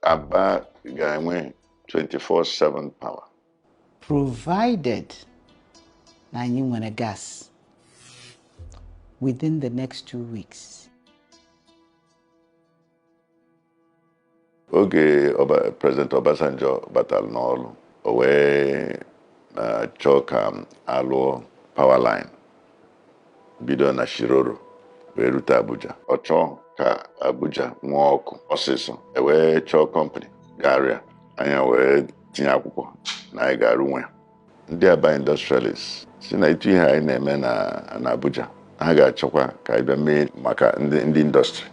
Aba ga-enwe 24/7 power. Provided na anyị nwere gas within the next two weeks. Oge President Obasanjo batara n'ọrụ, o wee chọọ ka a lụọ power line bido na Shiroro wee rute Abuja ọ chọọ ka Abuja nwee ọkụ ọsịsọ e wee chọọ kọmpani ga-arụ ya anyị wee tinye akwụkwọ na anyị ga-arụnwu ya ndị Aba industrialist sị na etu ihe anyị na-eme na Abuja ha ga-achọkwa ka anyị bịa mee maka ndị industry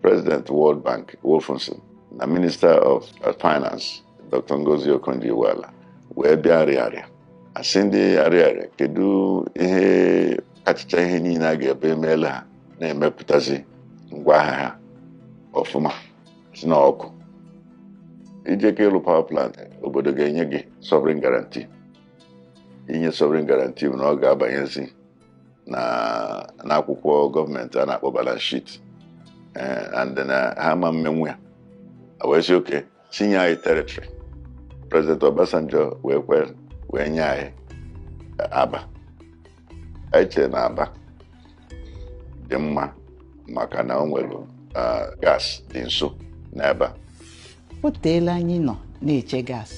President World Bank Wolfensohn na Minister of Finance Dr. Ngozi Okonjo-Iweala wee bịa Ariaria a sị ndị Ariaria kedu ihe kachacha ihe niile a ga-ebe emeelu ha na-emepụtazi ngwa ahịa ha ọfụma sị na ọkụ ije ka ịlụ power plant obodo ga-enye gị sovereign guarantee inye sovereign guarantee bụ na ọ ga-abanyezi na n'akwụkwọ gọọmenti a na-akpọ balance sheet eh, and na ha ama emenwu ya wee sị okay chinye anyị territory President Obasanjo wee kwe wee nye anyị Aba anyị chere na Aba dị mma maka na o nwere gas dị nso n'ebe a o teela anyị nọ na-eche gas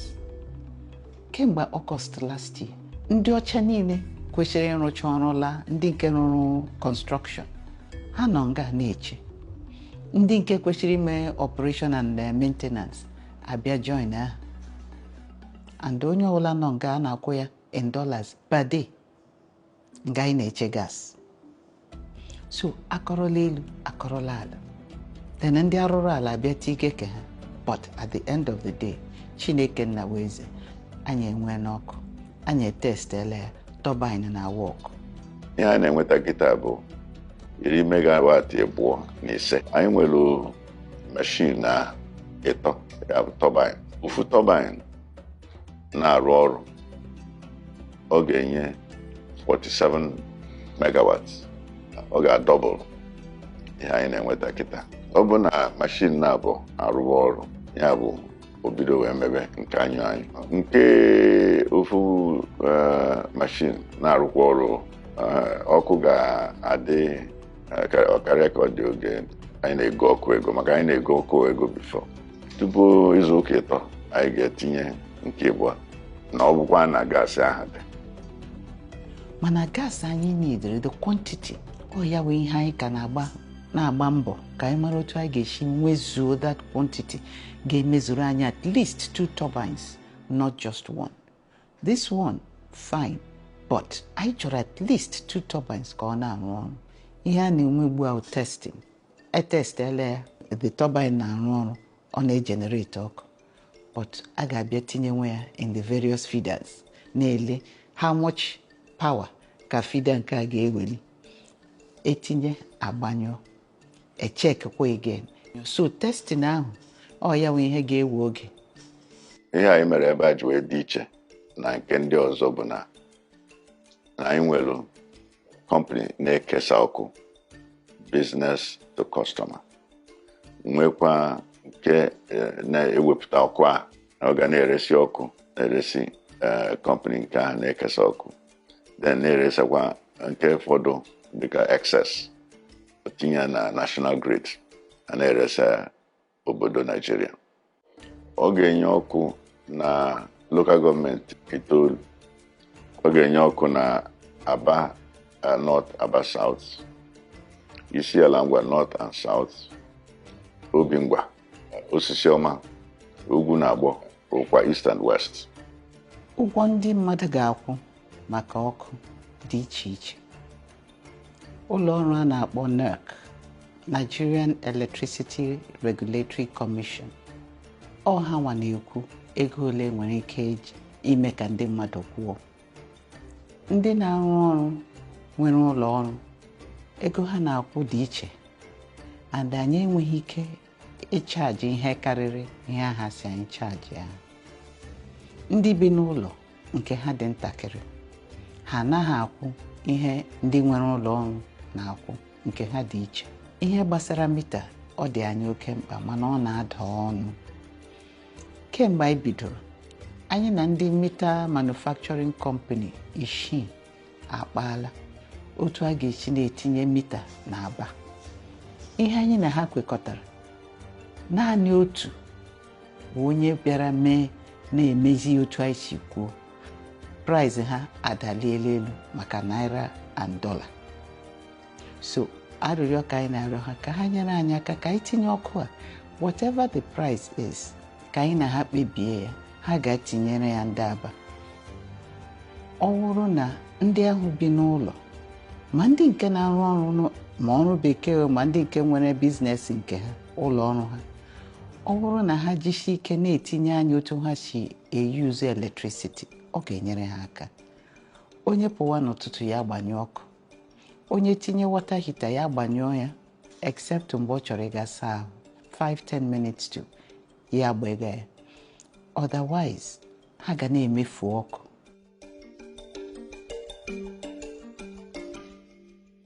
kemgbe August last year ndị ọcha niile kwesịrị ịrụcha ọrụ laa ndị nke rụrụ construction ha nọ nga a na-eche ndị nke kwesịrị ime operation and eh, maintenance abịa join ha and onye ọbụla nọ nga a na-akwụ ya in dollars per day nga anyị na-eche gas so a kọrọla elu a kọrọla ala then ndị arụrụ ala abịa tie ike ke ha but at the end of the day Chineke Nna wụ eze anyị enweena ọkụ anyị etestela ya turbine na-awa ọkụ ihe anyị na-enweta kịta bụ iri megawatt abụọ na ise anyị nwere mashin na ịtọ ya bụ turbine ofu turbine na-arụ ọrụ ọ ga-enye 47 megawatts ọ ga-adouble ihe anyị na-enweta kịta ọ bụ na mashin naabọ arụwa ọrụ ya bụ o bido wee mebe nke a nyụọ anyụ nke ofu eh, mashin na-arụkwa ọrụ eh, ọkụ ga-adị ọ karịa ka ọ dị oge anyị na-ego ọkụ ego maka anyị na-ego ọkụ ego before tupu izu ụka ịtọ anyị ga-etinye nke ịbụọ na ọ bụkwa na gaasị ahụ dị mana gaasị anyị nidere the quantity ọ ya bụ ihe anyị ka na-agba na-agba mbọ ka anyị mara otu anyị ga-esi nwezuo that quantity ga-emezuru anyị at least two turbines not just one This one fine but anyị chọrọ at least two turbines ka ọ na-arụ ọrụ ihe a na-enwe ugbu a bụ testing e testela ya the turbine na-arụ ọrụ ọ na-ejenerate ọkụ but a ga-abịa tinyewe ya in the various feeders na-ele how much power ka feeder nke a ga-eweli e tinye a gbanyụọ e checkkwa again so testing ahụ ọ ya bụ ihe ga-ewe oge ihe anyị mere ebe a ji wee dị iche na nke ndị ọzọ bụ na na anyị nwere company na-ekesa ọkụ business to customer nwekwa nke eh, na-ewepụta ọkụ a na ọ ga na-eresi ọkụ na-eresi company eh, nke ahụ na-ekesa ọkụ then na-eresakwa nke fọdụ dịka excess tinye na national grid a na-eresa obodo naịjirịa ọ ga-enye ọkụ na local government itoolu ọ ga-enye ọkụ na aba eh, north aba south isiala ngwa north and south obingwa osisiọma ugwunagbọ ụkwa east and west ụgwọ ndị mmadụ ga-akwụ maka ọkụ dị iche iche ụlọ ọrụ a na-akpọ NERC Nigerian Electricity Regulatory Commission ọ hanwa na-ekwu ego ole e nwere ike ime ka ndị mmadụ kwụọ ndị na-arụ ọrụ nwere ụlọ ọrụ ego ha na-akwụ dị iche and anyị enweghị ike ịchaji ihe karịrị ihe a ha sị anyị chajịa ndị bi n'ụlọ nke ha dị ntakịrị ha anaghị akwụ ihe ndị nwere ụlọ ọrụ na-akwụ nke ha dị iche ihe gbasara mita ọ dị anyị oke mkpa mana ọ na-ada ọnụ kemgbe anyị bidoro anyị na ndị mita manufacturing company isii akpaala otu a ga-esi na-etinye mita na aba ihe anyị na ha kwekọtara naanị otu bụ onye bịara mee na-emezi otu anyị si kwuo price ha adaliela elu maka naira and dollar so arịrịọ ka anyị na-arịọ ha ka ha nyere anyị aka ka anyị tinye ọkụ a whatever the price is ka anyị na ha kpebie ya ha ga-etinyere ya ndị aba ọ bụrụ na ndị ahụ bi n'ụlọ ma ndị nke na-arụ ọrụ ma ọrụ bekee ma ndị nke nwere business nke ha ụlọ ọrụ ha ọ bụrụ na ha jisie ike na-etinye anya otu ha si e-use electricity ọ ga-enyere ha aka onye pụwa n'ụtụtụ ya gbanyụọ ọkụ onye tinye water heater ya gbanyụọ ya except mgbe ọ chọrọ ịga saa ahụ 5-10 minutes to ya gbanye ya otherwise ha ga na-emefu ọkụ